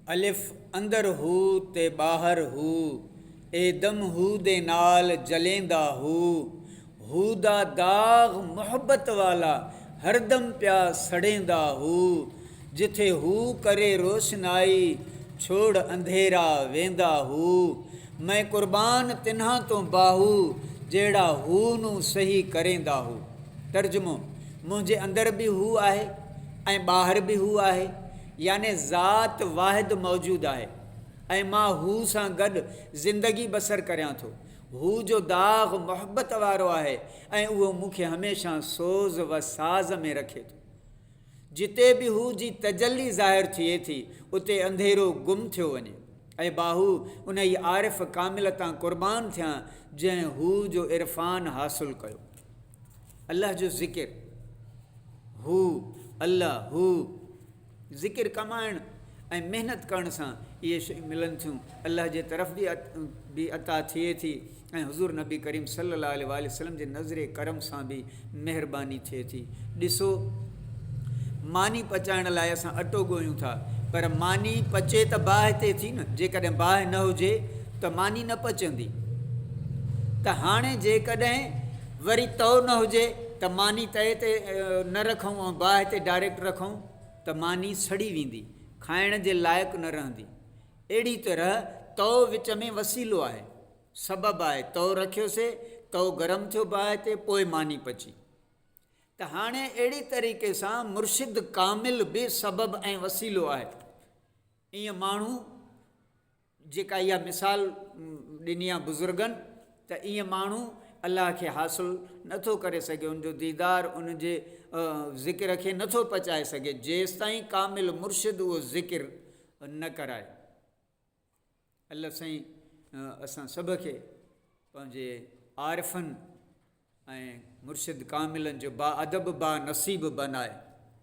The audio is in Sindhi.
الف اندر هو تي ٻاهر هو، اي دم هو دي نال جليندا هو، هو دا داغ محبت والا هر دم پيا سڙيندا هو، جٿي هو ڪري روشنائي ڇوڙ انڌيرا ويندا هو، مئن قربان تنهان تون باهو جهڙا هو نون سهي ڪريندا هو. ترجمو، منهنجي اندر به هو آهي. ۽ ٻاهر به هو آهي، يعني ذات واحد موجود آهي ۽ مان هو سان گڏ زندگي بسر ڪريان ٿو. هو جو داغ محبت وارو آهي ۽ اهو مون کي هميشه سوز و ساز ۾ رکي ٿو. جتي به هو جي تجلي ظاهر ٿئي ٿي، اتي انڌيرو گم ٿيو وڃي. اي باهو! انهيء عارف ڪامل تان قربان ٿيان، جنهن هو جو عرفان حاصل ڪيو. الله جو ذڪر، هو، الله، هو، ذڪر ڪمائڻ ۽ محنت ڪرڻ سان اهي شيون ملن ٿيون، الله جي طرف به عطا ٿئي ٿي ۽ حضور نبي ڪريم صلي الله عليه واٰله وسلم جي نظر ڪرم سان به مهرباني ٿئي ٿي، ڏسو! ماني پچائڻ لاء اسان اٽو ڳوهيون ٿا پر ماني پچي ته باهه تي ٿي نه جيڪڏهن باهه نه هجي ته ماني نه پچندي ته هاڻي جيڪڏهن وري تو نه هجي ته ماني تئي تي نه رکون ۽ باهه تي ڊائريڪٽ رکون ته ماني سڙي ويندي کائڻ جي لائق نه رهندي اهڙي طرح تو وچ ۾ وسيلو آهي سبب آهي تو رکيوسي تو گرم ٿيو باهه تي پوء ماني پچي ته هاڻي اهڙي طريقي سان مرشد ڪامل به سبب ۽ وسيلو آهي. ايئن ماڻهو جيڪا اها مثال ڏني آهي بزرگن ته ايئن ماڻهو الله کي حاصل نه ٿو ڪري سگهي، ان جو ديدار، ان جي ذڪر کي نه ٿو پچائي سگهي، جيستائين ڪامل مرشد اهو ذڪر نه ڪرائي. الله سائين اسان سڀ کي پنهنجي عارفن ۽ مرشد ڪاملن جو با ادب با نصيب بنائي